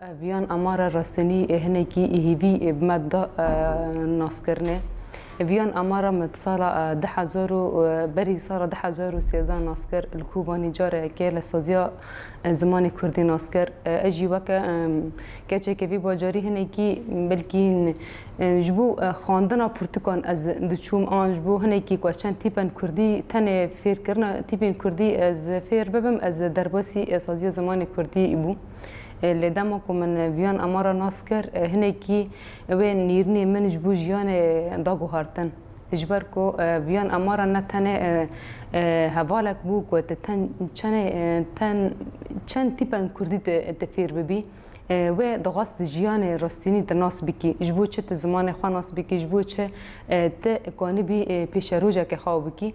Ev yan amara rastinî ê hinekî hîvî bi me da naskirine. Ev yan amara me di sala du hezar û berî sala du hezar û sêzdeh nas kir. Li Kobanî careke li saziya zimanê Kurdî nas kir. Ez jî weke keçeke vî bajarî hinekî belkî ji bo xwandina pirtûkan ez diçûm an ji bo hinekî ku ez çend tîpen Kurdî tenê fêrkirina tîpên Kurdî ez fêr bibim ez derbasî saziya zimanê Kurdî bûm. Lê dema ku min viyan amara nas kir, hinekî wê nîrnê min ji bo jiyanê da guhartin. Ji ber ku viyan amara ne tenê hevalek bû ku tu ten çenê ten çend tîpên kurdî tu tu fêr bibî. Wê dixwest tu jiyanê rastînî tu nas bikî. Ji bo çi tu zimanê xwe nas bikî, ji bo çi tu kanibî pêşerojekê xwe bikî.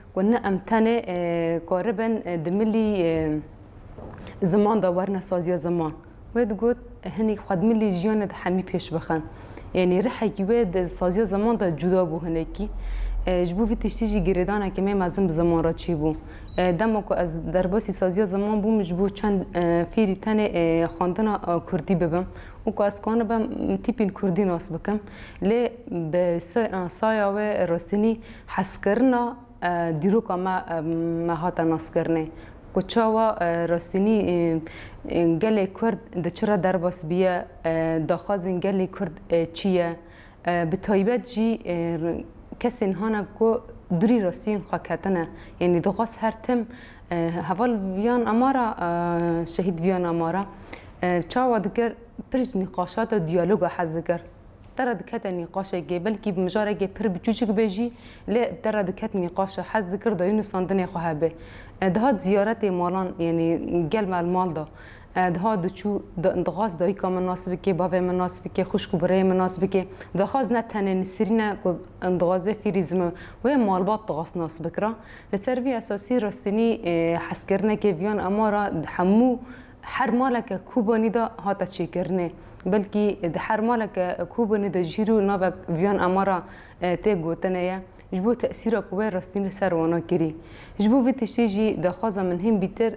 Ku ne em tenê karibin di milî ziman de werine saziya ziman. Wê digot hinî xwe di milî jiyanê de hemî pêş bixin. Yanî rihekî wê di saziya ziman de cuda bû hinekî. Ji bo vî tiştî jî girêdaneke me mezin bi ziman re çêbû. Dema ku ez derbasî saziya ziman bûm ji bo çend fêrî tenê xwendina kurdî bibim û ku ez kanibim tîpîn kurdî nas bikim. Lê bi saya wê rastînî Hezkirina dîroka me me hate naskirinê ku çawa rastînî gelê Kurd di çi re derbas bûye, daxwazên gelê Kurd çi ye, bi taybet jî kesên hane ku dûrî rastiyên xwe ketine, yanî dixwest her tim heval viyan amara şehîd viyan amara çawa dikir, pir ji nîqaşata diyaloga hez dikir. Te re dikete nîqaşekê, belkî bi mijarekê pir biçûçik be jî, lê te re diket nîqaşe, hez dikir dayî nûsandinê xwe hebe. Dihat ziyaretê malan, yanî gel me li mal de. Dihat diçû, dixwast dayîka min nas bike, bavê min nas bike, xwişk û birayê min nas bike. Daxwaz ne tenê Nisrîn e ku dixwaze fîrî zim e, wê malbat dixwast nas bikira. Li ser vî esasî rastînî hezkirineke vîyan ema re di hemû. Her maleke Kobanî de hate çêkirinê. Belkî di her maleke Kobanî de jî rû navek viyan amara tê gotinê ye. Ji bo tesîra ku wê rastîn li ser wana kirî. Ji bo vî tiştî jî daxwaza min hîn bîtir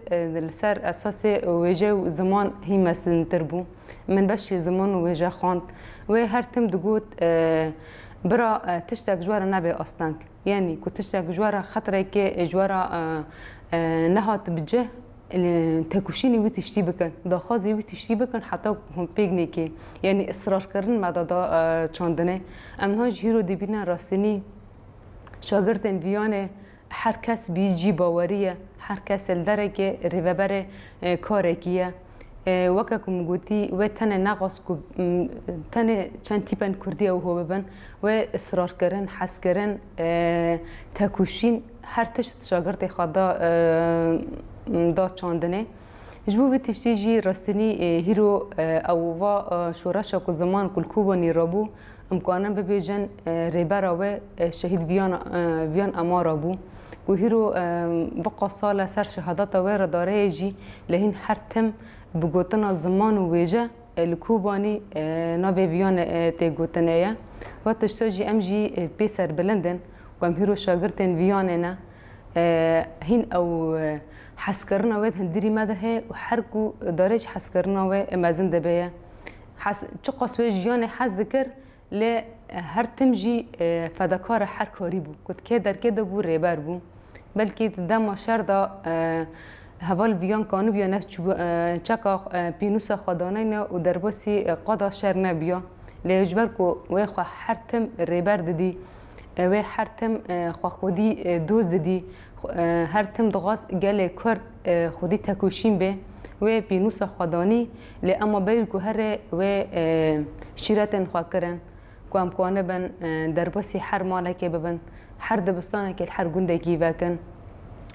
li ser esasê wêje û ziman hîn mezintir bû. Min beşê ziman û wêje xwend. Wê her tim digot, Bira tiştek ji we re nebe asteng. Yanî ku tiştek ji we re xetirekê ê ji we re nehat bi cih, têkoşînê wî tiştî bikin, daxwazê wî tiştî bikin heta ku hûn pêginekê yanî israrkirin me da çandinê. Em niha ji hîro dibînin rastînî şagirtên viyanê her kes bî cî bawerî ye, her kes li derekê rêveberê karekî ye. Weke ku min gotî wê tenê nexwest ku tenê çend tîpên Kurdî ew ho bibin, wê israrkirin, hezkirin, tekûşîn her tişt şagirtê xwe da da çandinê. Ji bo vî tiştî jî rastînî hîro ew va şoreşa ku ziman ku li Kobanî re bû Em karin bibêjin rêbera wê şehîd viyan amara bû û hîro viqa sala ser şehadata wê re dareyê jî li hîn her tim bi gotina ziman û wêje li Kobanî navê viyan tê gotinê ye. Wa tişta jî em jî pê serbilind in û em hîro şagirtên viyanê ne. Hîn ew heskirina wê di hundirî me de heye û her ku darê ji heskirina wê mezin dibe ye. Hez çiqas wê jiyanê hez dikir lê her tim jî fedakara her karî bû. Ku di kê derkê de bû rêber bû. Belkî di dema şer de heval viyan kanibûya nav çeka pînûsa xwedanayne û derbasî qada şer nebûya. Lê ji ber ku wê xwe her tim rêber didî, wê her tim xwe xwedî doz didî, her tim dixwest gelê kurd, Xwedî tekoşîn be. Wê pênûsa xwe danî lê ema berî guherê wê şîretên xwe kirin ku em kanibin derbasî her malekê bibin, her dibistanekê li her gundekî vekin.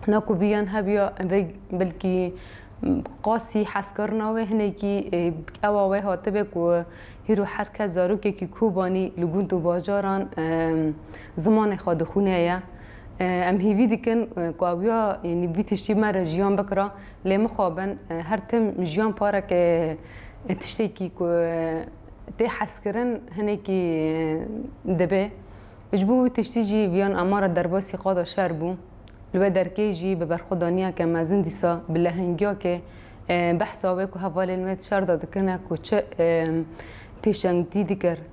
Na ku vî yan hebiya vê belkî qasî hezkirina wê hinekî ewa wê hatibe ku hîro her kes zarokekî Kobanî li gund û bajaran zimanê xwe dixwîne ye. Em hêvî dikin ku awiya yanî vî tiştî me re jiyan bikira lê mixabin her tim jiyan pareke tiştekî ku tê hezkirin hinekî dibe. Ji bo wî tiştî jî viyan ema re derbasî qada şer bû. Li we derkê jî bi berxwedaniyeke mezin dîsa bi lehengiyakê behsa wê ku hevalên wê di şer de dikin e ku çi pêşengtî dikir.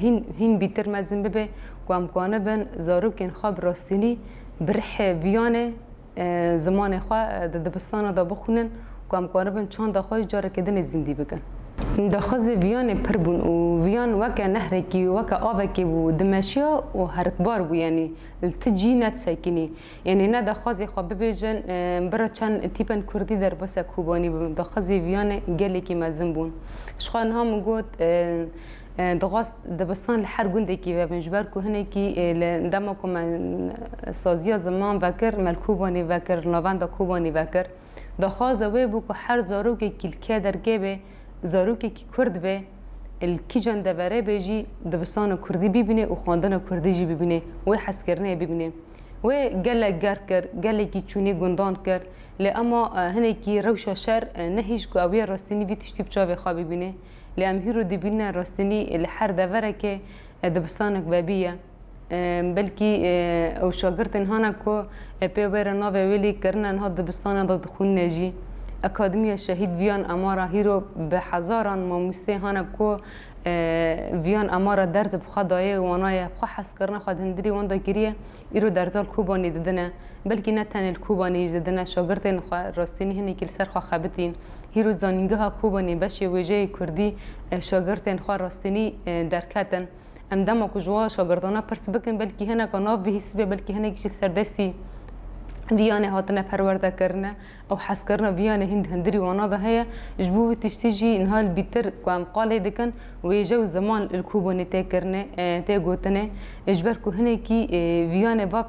Hîn hîn bîtir mezin bibe ku em xwanibin zarokên xwe bi rastînî bi rihê viyanê zimanê xwe di dibistana de bixwînin ku em xwanibin çanda xwe jî carekê din ê zîndî bikin. Min daxwazê viyanê pir bûn û viyan weke nehrekî, weke avekê bû, dimeşiya û herikbar bû, yanî li ti cî ne disekînî. Yanî ne daxwazê xwe bibêjin, bira çend tîpên kurdî derbasîya Kobanî bûn, daxwazê viyanê gelekî mezin bûn. Ji xwe niha min got, dixwest dibistan li her gundekî vebin, ji ber ku hinekî li dema ku me saziya ziman vekir, me li Kobanî vekir, li navenda Kobanî vekir. Daxwaza wê bû ku her zarokekî li kê dergê bê, zarokekî kurd be, li kîjan deverê bê jî dibistana kurdî bîbîne û xwendina kurdî jî bîbîne, wê hezkirinê bîbîne. Wê gelek gerr kir, gelekî çûnî gundan kir, lê ema hinekî rewşa şer nehîşt ku ew yê rastînî vî tiştî bi çavê xwe bîbîne. Lê em hîro dibînine rastînî li her deverekê dibistanek vebîye. Belkî ew şagirtên hana ku pê wê re navê wê lî kirine niha dibistana de dixwînine jî. Akademiya Şehîd Viyan Amara hîro bi hezaran mamosteyê hana ku Viyan Amara derz bi xwe daye û wanaye xwe hezkirina xwe di hundirê wan de kiriye, îro derza li Kobanê didine. Belkî ne tenê li Kobanê jî didine, şagirtên xwe rastînî hinekî li ser xwe xebitîn. Hîro Zanîngeha Kobanê beşê wêjeyê kurdî şagirtên xwe rastînî derketin. Em dema ku ji wan şagirdanan pirs bikin belkî hineka nav bihîsibe belkî hinek jî li ser destî viyanê hatine perwerdekirine û hezkirina viyanê hîn di hindirî wana de heye. Ji bo vî tiştî jî niha li bîtir ku em qalê dikin wêje û ziman li ku bûnê tê kirinê tê gotinê ji ber ku hinekî viyanê va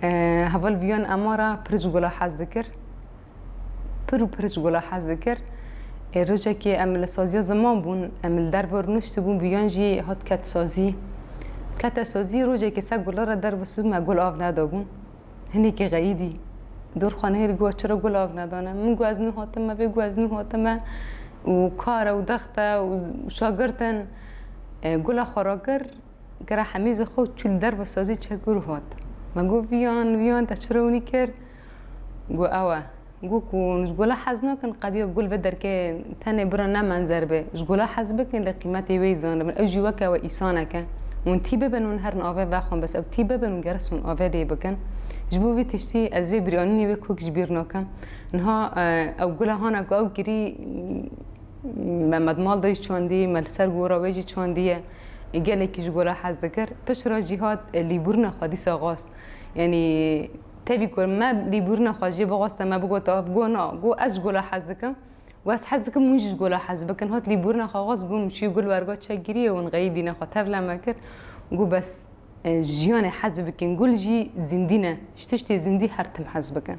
Heval biyon ema ra pir ji gula hez dikir. Pir û pir ji gula hez dikir. Ê rojekê em li saziya ziman bûn. Em li derve rûniştibûn biyon jî hat ket sazî. Kete sazî rojekê ser gula re derve sibû me gul av nedabûn. Hinekî xeyîdî. Dorxan hêrî got çira gul av nedane. Min got ez nû hatime vê got ez nû hatime û kar e û dext e û şagirt in. Gula xwe rakir. Kira hemî zî xwe çû li der bi sazî çekûr û hat. Me got viyan viyan te çi rewnî kir? Got ew e. Got ku hûn ji gola hez nakin qediya gul ve derkeve tenê bira ne menzer be. Ji gola hez bikin lê qîmetê wê yî zanibin. Ew jî weke we îsanek e. Hûn tî bibin hûn herin ave vexwin bes ew tî bibin û geres hûn ave lê bikin. Ji bo vî tiştî ez vê birîanînê wê kok ji bîr nakim. Niha ew gula hana ku ew kirî me me di mal de jî çandî, me li ser gora wê jî çandî ye. Gelekî ji gora hez dikir. Piştre jî hat lîbûrina xwe dîsa xwest. Yanî tevî ku me lîbûrina xwe jê bixweste me bigot ev got na got ez ji gora hez dikim û ez hez dikim hûn jî ji gora hez bikin. Hat lîbûrina xwe xwest got min çûye gul werga çekgiriyê û min xeyî dîna xwe tevle me kir û got bes jiyanê hez bikin gul jî zîndî ne ji tiştê zîndî her tim hez bikin.